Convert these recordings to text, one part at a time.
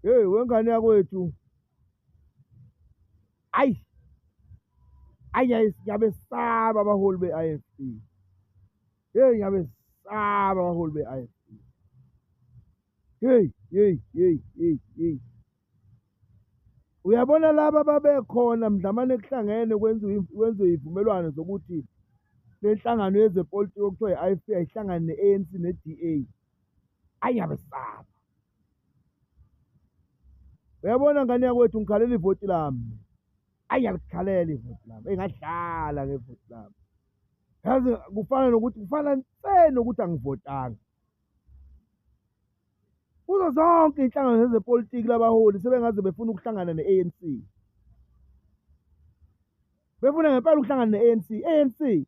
Hey wengane yakwethu. Ayi. Ayi ngiyabe saba abaholi be-IFP. Hey ngiyabe saba abaholi be-IFP. Hey, hey, hey, hey, hey. Uyabona laba babekhona mdlamane kuhlangene kwenziwe kwenziwe izivumelwano zokuthi lenhlangano yezepolitiki okuthiwa i-IFP ayihlangane ne-ANC ne-DA. Ayi ngiyabe saba. uyabona ngane yakwethu ngikhalela ivoti lami ayi alikhalela ivoti lami engadlala ngevoti lami yazi kufana nokuthi kufana nse nokuthi angivotanga kuzo zonke iy'nhlangano zezepolitiki labaholi sebengaze befuna ukuhlangana ne-anc befuna ngempela ukuhlangana ne-anc anc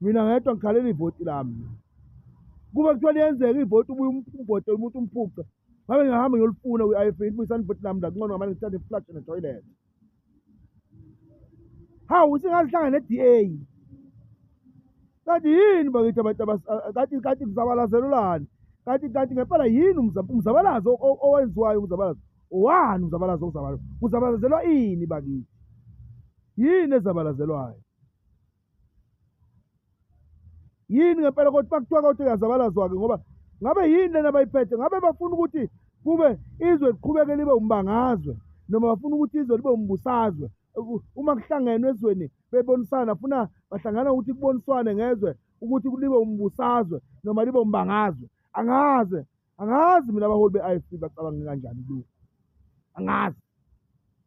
mina ngedwa ngikhalela ivoti lami kube kuthiwa liyenzeka ivoti ubuye um-, umvote umuntu umphuce ngabe ngihamba ngiyolifuna kwi-i f ndibuyisani ivoti lami la kuncono ngamane ngithathe iflash netoilet hawu singazihlanga ne-d a kanti yini bakithi abantu kanti kanti kuzabalazelolani kanti kanti ngempela yini umzabalazo owenziwayo umzabalazo owani umzabalazo okuzabalazo kuzabalazelwa ini bakithi yini ezabalazelwayo yini ngempela kodwa bakuthiwa kodwa uyazabalazwa-ke ngoba ngabe yini lena bayiphethe ngabe bafuna ukuthi kube izwe liqhubeke libe umbangazwe noma bafuna ukuthi izwe libe umbusazwe uma kuhlangenwe ezweni bebonisana funa bahlangana ukuthi kuboniswane ngezwe ukuthi libe umbusazwe noma libe umbangazwe angaze angazi mina abaholi be-i f bacabanga kanjani lu angazi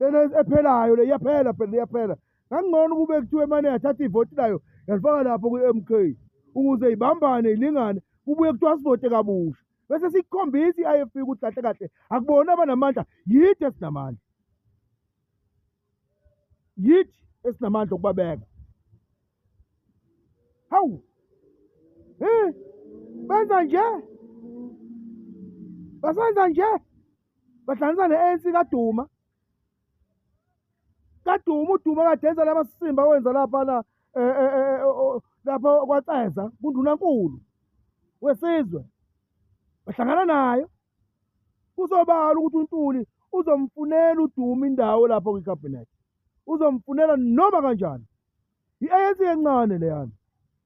lena ephelayo le iyaphela phela iyaphela ngangcono ukube kuthiwe mane yathatha ivoti layo yalifaka lapho kwi-m k ukuze ibambane ilingane kubuye kuthiwa sivote kabusha bese sikukhombisa i-i f p ukuthi kahle kahle akubona abanamandla yithi esinamandla yithi esinamandla okubabeka hawu um benza nje basenza nje bahlanganisa ne-anc kaduma kaduma uduma kadenza laba sisimba wenza laphana um eh, eh, eh, oh, oh, lapho kwaceza kundunankulu wesizwe bahlangana nayo kusobala ukuthi untuli uzomfunela uduma indawo lapho kwikhabhinethi uzomfunela noma kanjani i-anc encane leyana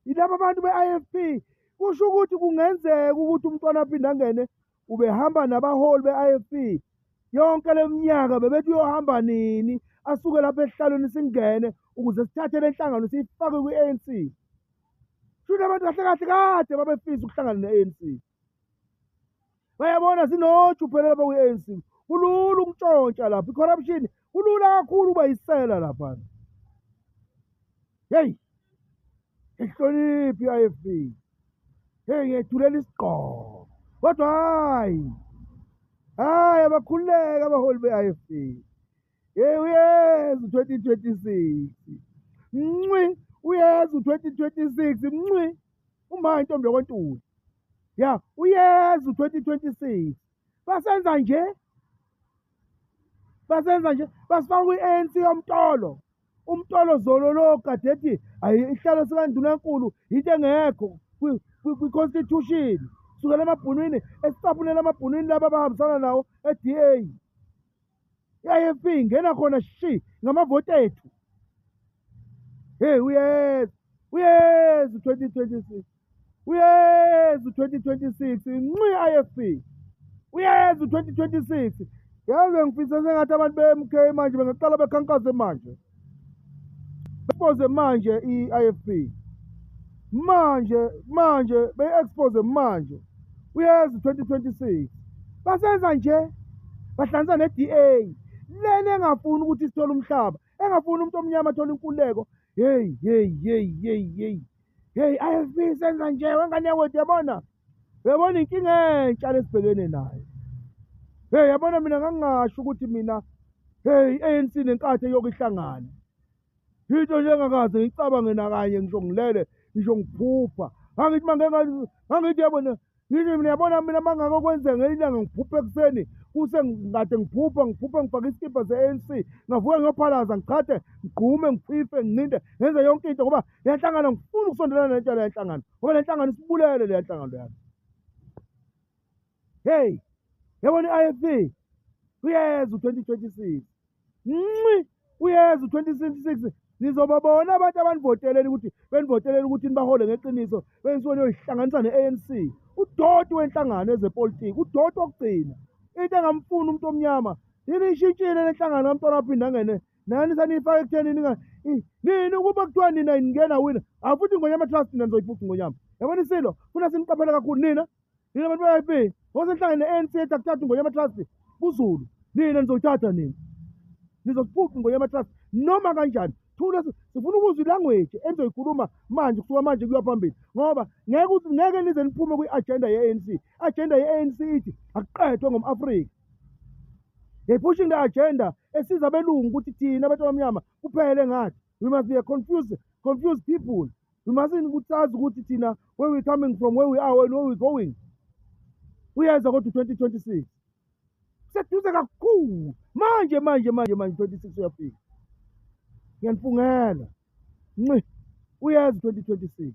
yilaba abantu be-i f p kusho ukuthi kungenzeka ukuthi umntwana aphinde angene ubehamba nabaholi be-ifp yonke le minyaka bebethi uyohamba nini asuke lapho esihlalweni singene ukuze sithathe le nhlangano siyifake kwi-anc shuthi abantu kahle kahle kade babefisa ukuhlangana ne-anc bayabona zinoju phela lapha kwi-anc kulula ukuntshontsha lapho i-corruption kulula kakhulu uba yisela laphana heyi ihloniphi i-ifp heyi ngiyethulela isigqoko kodwa hhayi hhayi abakhululeka abaholi be-ifp yeyi uyeza u-twenty twenty six mncwi uyeza u-twenty twenty six mncwi uma intombi yokwentuli ya uyeza u-twenty twenty six basenza nje basenza nje basifaka kwi-anc yomtolo umtolo zolo lo kade ethi ihlalo sikandunankulu yinto engekho kwi-constitution sukela emabhunwini esicabulela amabhunwini laba abahambisana nawo e-da i-ifp ingena khona shi ngamavoti ethu heyi uyeza uyeza u-twenty twenty six uyeza u-twenty twenty six nxi i-ifp uyeza u-twenty twenty six yazi bengifisa sengathi abantu be-m k manje bengaqala bekhankase manje Expose manje i-IFP. Manje manje beyi-expose manje. Uyazi 2026. Basenza nje bahlanza ne-DA. Lena engafuni ukuthi sithole umhlaba, engafuni umuntu omnyama athole inkululeko. Hey hey hey hey hey. Hey IFP senza nje wengane yakwethu yabona. Uyabona inkinga entsha lesibhekene nayo. Hey yabona mina ngangingasho ukuthi mina hey ANC nenkathi yokuhlangana. Into nje engakaze ngicabange nakanye ngisho ngilele ngisho ngiphupha. Ngangithi mangeke ngangithi yabona Yini mina yabona mina mangaka okwenza ngelinye ilanga ngiphupha ekuseni kuse ngikade ngiphupha ngiphupha ngifake isikibha se-ANC ngavuka ngiyophalaza ngichade ngigqume ngiphife ngincinde ngenze yonke into ngoba le nhlangano ngifuna ukusondelana nento le nhlangano ngoba le nhlangano isibulele le nhlangano yami heyi yabona i-ifp kuyeza u-twenty twenty six nxi uyeza u-2026 nizobabona abantu abanivoteleni ukuthi benivoteleni ukuthi nibahole ngeqiniso benisuke niyoyihlanganisa ne-anc udoti wenhlangano ezepolitiki udoti wokugcina into engamfuni umuntu omnyama yini ishintshile le nhlangano kamntwana waphinde angene nani saniyifaka ekutheni nini ukuba kuthiwa nina ningena wina afuthi ingonyama trust nina nizoyiphuca ingonyama yabona isilo funa siniqaphele kakhulu nina Nina bantu be-IFP ngosenhlangene ne-ANC ethi akuthathi ingonyama trust kuzulu. Nina nizothatha nina. Nizosiphuca ingonyama trust noma kanjani. Thula sifuna ukuzwa ilanguage enizoyikhuluma manje kusuka manje kuya phambili ngoba ngeke ukuthi ngeke nize niphume kwi-agenda ye-ANC. Agenda ye-ANC ithi akuqedwe ngom-Afrika. They're pushing the agenda esiza abelungu ukuthi thina abantu abamnyama kuphele ngathi. We must be a confused, confused people. we mustn't ukuthi sazi ukuthi thina where we coming from where we are and where we going uyeza kodwa u-twenty twenty six kuseduze kakhulu manje manje manje manje twenty six uyafika ngiyanifungela nci uyeza u-twenty twenty six